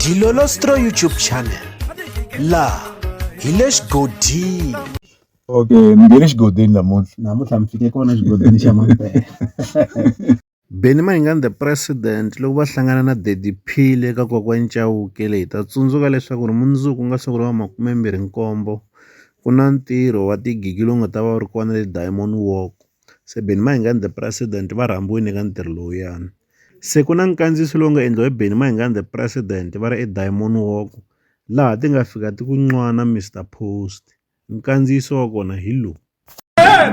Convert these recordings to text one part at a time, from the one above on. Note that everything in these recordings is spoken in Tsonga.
Dilolostro YouTube channel laha hi le xigodini okay mi nge le xigodini namuntlha namuntlha mi fike kona xigodini xa mampela Benny Mayengani the president loko va hlangana na Daddy Phile eka kokwani Chauke leyi ta tsundzuka leswaku ri mundzuku ku nga siku ra makume mbirhi nkombo ku na ntirho wa tigigi lowu nga ta va wu ri kona le Diamond Walk se Benny Mayengani the president va rhambiwile eka ntirho lowuyani. Se ku na nkandziyiso lowu nga endliwa hi Benny Mayengani the President va ri eDiamond Walk laha ti nga fika ti ku nwana Mr Post nkandziyiso wa kona hi lowu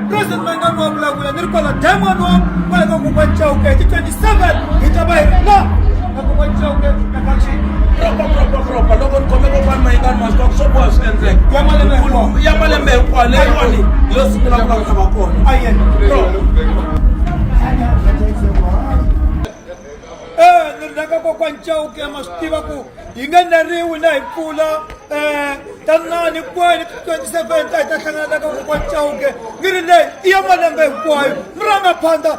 President Mayengani wa vulavula ni ri kwala Diamond Walk kwala ka Kokwani Chauke hi ti 27 hi ta va hi ri la ka Kokwani Chauke propropropropro loko ni khome kokwana mayingani maswa swo boha swi endleka ya malembe hinkwayo leyiwani yo sungula ku lava va kona raka kokwani chauke ma swi tiva ku hi nge neriwi na hi pfula um tanani kwani twenty seven ta hi ta hlangana na ka kokwani chauke ni ri leyi i ya malembe hinkwayo mi ranga phanda